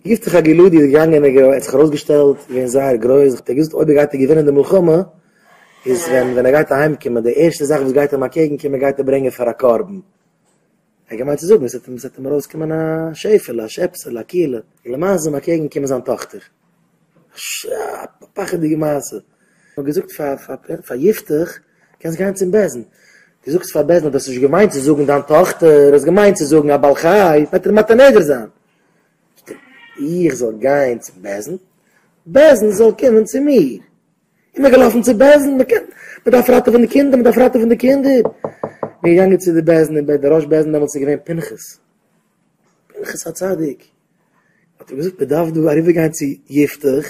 גיסט זיך א געלוי די געגאנגענע געלוי האט זיך ארויסגעשטעלט געווען זייער גרויס האט ער געזאגט אויב ער גייט ער געווינען די מלחמה איז ווען ווען ער גייט אהיימקומען די ערשטע זאך וואס גייט אים אקעגן קומען גייט ער ברענגען פאר א קרבן ער האט געמיינט צו זאגן עס וועט אים ארויסקומען א שעפעלע א שעפסעלע א קילע און למעשה איז אים אקעגן געקומען זיין טאכטער א פחד'דיגע מעשה האט געזאגט פאר פאר פאר יפתח קענסט גיין צום בעשן די זאגסט פאר בעשן אז די האסט נישט געמיינט צו זאגן דיין טאכטער האסט געמיינט צו זאגן א בעל חי וועט ער מעט א נדר זיין איך זאל גיין צום בעש ט, בעש ט זאל קומען צו מיר. איך בין געלאפן צום בעש ט, מען דארף ראטעווען די קינדער, מען דארף ראטעווען די קינדער. בין געגאנגען צו די בעש ט, און דער ראש בעש ט דעמאלטס איז געווען פנחס, פנחס הצדיק, האט ער געזאגט מען דארף דא אריבער גיין צו יפתח,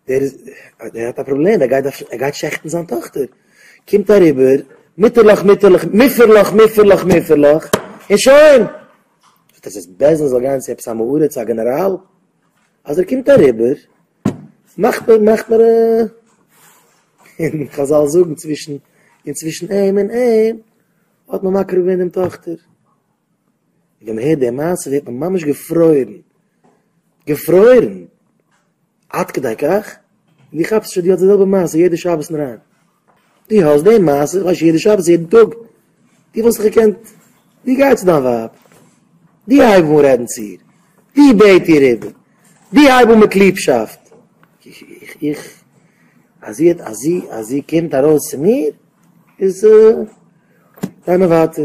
דער איז, דער האט א פראבלעם, ער גייט, ער גייט שעכטן זיין טאכטער. קומט אריבער, מוטערלעך, מוטערלעך, מופערלעך, מופערלעך, מופערלעך, און שוין. וואס דאס איז בעסער זאל גיין צו עפעס א מעורה צו א גענעראל, אז ער קומט אריבער מאכט מען מאכט מען און חזל זאגן צווישן און צווישן אים און אים האט מען מקרב געווען דעם טאכטער, ווען מען הערט די מעשה ווערט מען ממש געפרוירן געפרוירן עד כדי כך? ווי כאפסטו שוין די האסט די זעלבע מעשה יעדע שבת און אריין? די האסט די מעשה איך ווייס יעדע שבת יעדן טאג די וואלסט זיך געקענט די גיי צו דיין ווייב די הייב אן רעדן צו איר די בעט איר איבער די הייב אן מיט ליבשאפט איך אז זי אז זי אז זי קומט ארויס צו מיר איז גיי מיר ווייטער.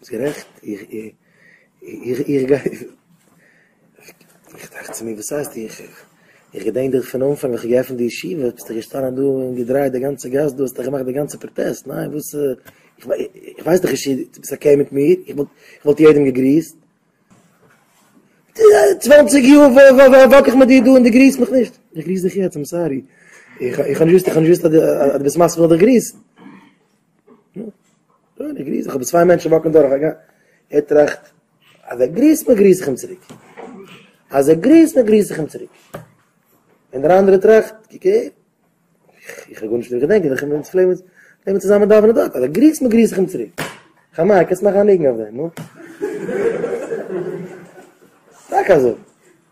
ביסט גערעכט, איך טראכט צו מיר וואס הייסט איך, איך געדענק דיך פון אנפאנג ווען כ'האב געעפנט די ישיבה, ביסטו געשטאנען דא און געדרייט די גאנצע גאס דא, האסטו געמאכט די גאנצע פראטעסט, ניין וואס, איך ווייס דיך נישט, דו ביסט אקעי מיט מיר, איך וואלט יעדעם געגריסט, צוואנציג יאר וואק איך מיט דיר דא און דו גריסט מיך נישט, איך גריס דיך יעצט, איים סארי, איך האב נישט געוואוסט אז דו ביסט מספיק זיך צו גריסן. אוי, די גריס, איך האב צוויי מענטשן וואקן דורך, א גאנ, ער טראכט, אז ער גריסט מיר, גריס איך אים צוריק. אז ער גריסט מיר, גריס איך אים צוריק. און דער אנדערער טראכט, קוק אהער, איך האב גארנישט דא געדענקט, איך בין צו פלעין נעמען צוזאמען דאווענען דארט, אז ער גריסט מיר, גריס איך אים צוריק. חמי, קענסט מאכן א ניגון אויף דעם, נו? טאקע אזוי.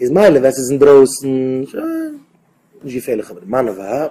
איז מילא ווען ס'איז אינדרויסן, שוין, נישט געפערליך, אבער מאן און ווייב,